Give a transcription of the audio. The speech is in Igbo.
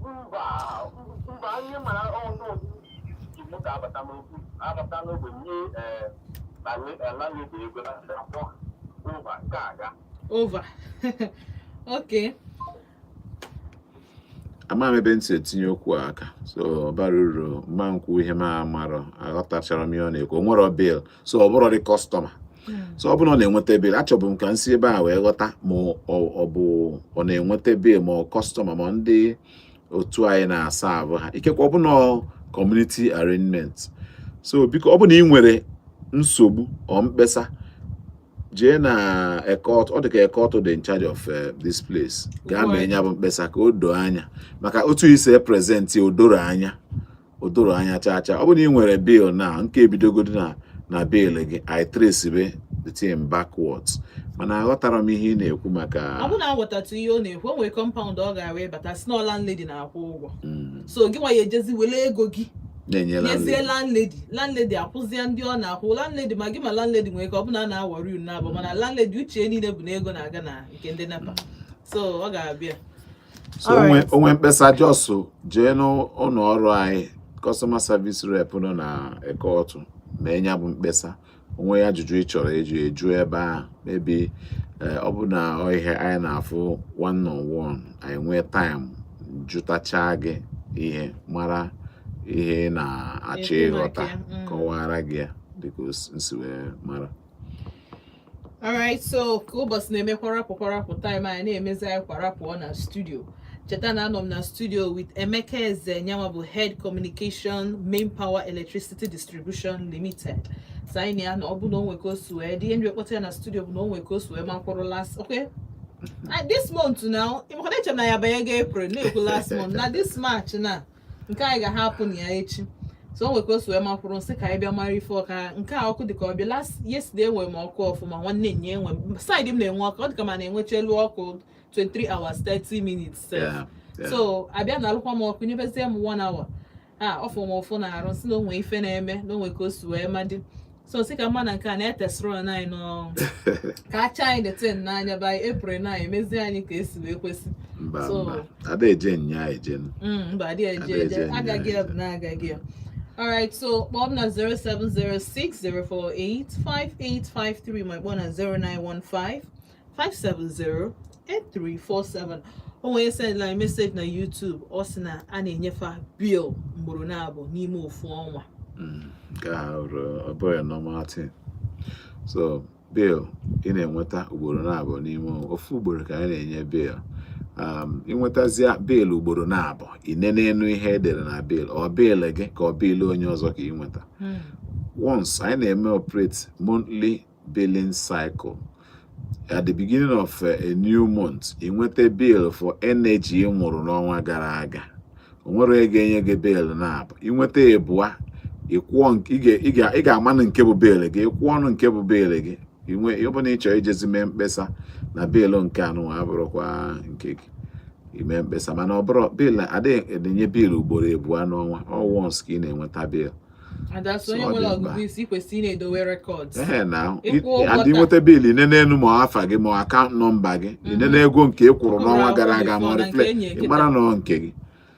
mba mba anyị mara ọnụ igbo ga-abata n'ogbe abata n'ogbe nye landlady ego na akpọ ova nke aga ova ok ama m ebe nsi etinye okwu aka so bara uru mma nkwu ihe m amarọ aghọtachara m ihe ọ na-ekwu o nwerọ bill so ọ bụrọdị customer so ọ bụrụ na ọ na-enweta bill achọbu m ka m si ebe a wee ghọta ma ọ bụ ọ na-enweta bill ma ọ customer ma ndị otu anyị na-aserve ha ikekwe ọ bụ na community arrangement so biko ọ bụ na ị nwere nsogbu or mkpesa jee na Eke Otu ọ dị ka Eke Otu dị in charge of eh, this place gaa mee nya bụ mkpesa ka o doo anya maka otu i si e present o dorọ anya o dorọ anya chaa chaa ọ bụrụ na ị nwere bill na nke ebidogodi na na bill gị i tracebe the thing backwards mana aghọtarọ m ihe ị na-ekwu maka ọ bụrụ na aghọtatụ ihe ọ na-ekwu o nwere compound ọ ga-abụ ị bata si na landlady na-akwụ ụgwọ mm. so gị nwa ya ejezi wele ego gị nyezie landlady landlady akwụzie ndị ọ na-akwụ landlady ma gị ma landlady nwere ike ọ bụ na a na-awọri unu abụọ mana landlady uche niile bụ na ego na-aga na nke ndị NEPA so ọ ga-abịa so o nwee o nwee mkpesa just jee n'ụlọ ọrụ anyị customer service rep nọ na Eke Otu mee nya bụ mkpesa o nwee ajụjụ ị chọrọ eji eju ebe a maybe eh, ọ bụ na ihe anyị na-afụ one on one anyị nwee time jụtachaa gị ihe mara ihe ị na-achọ ịghọta mm. kọwara gị ya dịka nsi wee mara alright so ka ụbọchị na-eme kwarapụ kwarapụ time anyị na-emezi anyị kwarapụ ọ na studio cheta na anọ m na studio with Emeka Eze nya nwa bụ head communication main power electricity distribution limited so anyị na ya na ọ bụ na o nwe ka o si wee dị ihe nji ekpọta ya na studio bụ na o nwe ka o si wee makwụrụ last okay this month now ị makwa na eche na ya banyego April na-ekwu last month na this March na nke anyị ga-ahapụ nya echi so o nwe ka o si wee makwụrụ nsị ka anyị bịa mara ife ọka nke a ọkụ dịka ọ bịa last yesterday enwe m ọkụ ọfụma nwanne nye enwe side m na-enwe ọkụ ọ dịka ma na-enwecha elu ọkụ 23 hours 30 minutes so a bịa nalụkwa m ọkụ nyebezie m 1 hour a ọ fụ m ụfụ n'arụ nsị na o nwe ife na-eme na o nwe ka o si wee madị so sị ka mma na nke a na-etesịrị e anyị n'ọrụ ka acha anyị the thing n'anya by April na emezi anyị ka esi wee kwesị mba mba ada eje nya eje mm, mba adị eje eje agaghị ya bụ na agaghị ya Alright, so kpọọ m na 0706 048 5853 ma kpọọ na 0915 570 8347 o nwere onye sendịlị message na YouTube ọ sị na a na-enye fa bill ugboro naabọ n'ime ofu ọnwa hmm, nke a ọ bụghị normal thing so bill ị na-enweta ugboro naabọ n'ime ọnwa ofu ugboro ka anyị na-enye bill um, i nwetazia bill ugboro naabọ i nenee nụ ihe e dere na bill ọ bill gị ka ọ bill onye ọzọ ka ị nweta hmm. once anyị na-eme operate monthly billing cycle at the beginning of uh, a new month ị nweta bill for energy ị ṅụrụ n'ọnwa gara aga o nwere a ga-enye gị bill naabọ ị nweta ịbụa ị ga-amanụ nke bụ bill gị ị kwụọ nụ nke bụ bill gị ọ bụrụ na ị chọrọ ijezi mee mkpesa na bill nke a nụwa abụrọkwa nke gị i mee mkpesa mana ọ bụrụ bill adịghị enye bill ugboro ịbụa n'ọnwa ọ once ka ị na-enweta bill and ị nweta bill i nenee nụ ma afa gị ma ọ account number gị i nenee mhm. ego nke ị kwụrụ n'ọnwa gara aga ma ọ reflect ị mara na ọ nke gị